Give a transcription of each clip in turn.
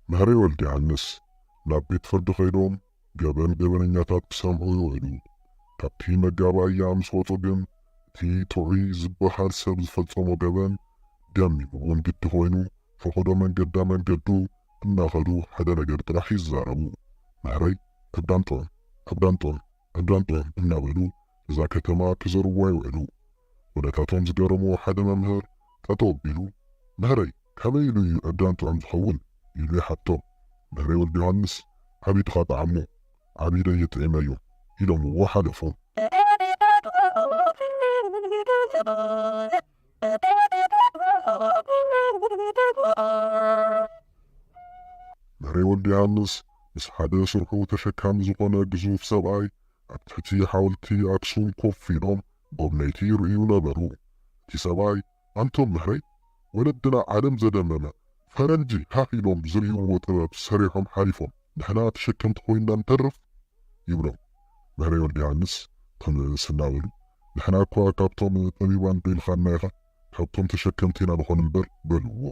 መህሪ ወልደዮሃንስ፣ ናብ ቤት ፍርዲ ከይዶም ገበን ገበነኛታት ክሰምዑ ይውዕሉ። ካብቲ መጋባእያ ምስ ወጹ ግን እቲ ጥዑይ ዝበሃል ሰብ ዝፈጸሞ ገበን ደሚምዎም ግዲ ኮይኑ ፈቐዶ መንገዳ መንገዱ እናኸዱ ሓደ ነገር ጥራሕ ይዛረቡ፣ መህረይ ኣብ ዳንጦን ኣብ ዳንጦን! ዕብዳን ጦር እናበሉ እዛ ከተማ ክዘርዉዋ ይውዕሉ። ወደታቶም ዝገረሞ ሓደ መምህር ጠጠው ኣቢሉ፣ መህረይ ካበይ ኢሉ እዩ ዕብዳን ጥዑም ዝኸውን? ኢሉ ይሓቶ። መህረይ ወልደዮሃንስ ዓቢ ድኻ ጠዓሞ፣ ዓቢ ደይ የጥዒመዮ ኢሎምዎ ሓለፉ። መሬ ወልደዮሃንስ ምስ ሓደ ስርሑ ተሸካሚ ዝኾነ ግዙፍ ሰብኣይ ኣብ ትሕቲ ሓወልቲ ኣክሱም ኮፍ ኢሎም ጎብነይቲ ይርእዩ ነበሩ። እቲ ሰብኣይ ኣንቶ መሬ ወለድና ዓለም ዘደመመ ፈረንጂ ሃህ ኢሎም ዝርእይዎ ጥበብ ሰሪሖም ሓሊፎም ንሕና ተሸከምቲ ኮይንና ንተርፍ ይብሎም። መሬ ወልደዮሃንስ ትም እናበሉ ንሕና እኳ ካብቶም ጠቢባን በይልኻና ኢኻ ካብቶም ተሸከምቲ ኢና ንኾን እምበር በልዎ።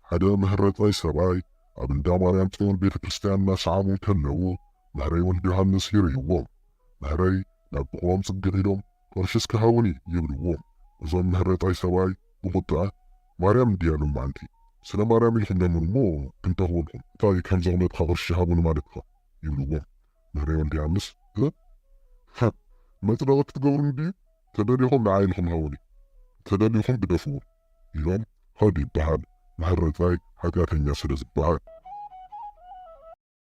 ሓደ ምህረጻይ ሰብኣይ ኣብ እንዳ ማርያም ጽዮን ቤተ ክርስትያን እናሰዓሙ እንከለዉ ምህረይ ወልደዮሃንስ ይርእይዎም። ምህረይ ናብ ጥቕኦም ጽግዕ ኢሎም፣ ቅርሽስ ክሃቡኒ ይብልዎ እዞም ምህረታይ ሰብኣይ ብቁጥዐ ማርያም እንድያ ሎማዓንቲ ስለ ማርያም ኢልኩም ለምኑ እሞ ክንተክበልኩም እንታይ ከም ዘቅመጥካ ቅርሺ ሃቡኒ ማለትካ ይብልዎ ምህረይ ወልደያንስ እ ህ መፅደቂ ክትገብሩኒ ድዩ ተደሊኩም ንዓይ ኢልኩም ሃቡኒ ተደሊኩም ግደፍዎ ኢሎም ከዱ ይበሃል ምህረታይ ሓጥያተኛ ስለ ዝበሃል።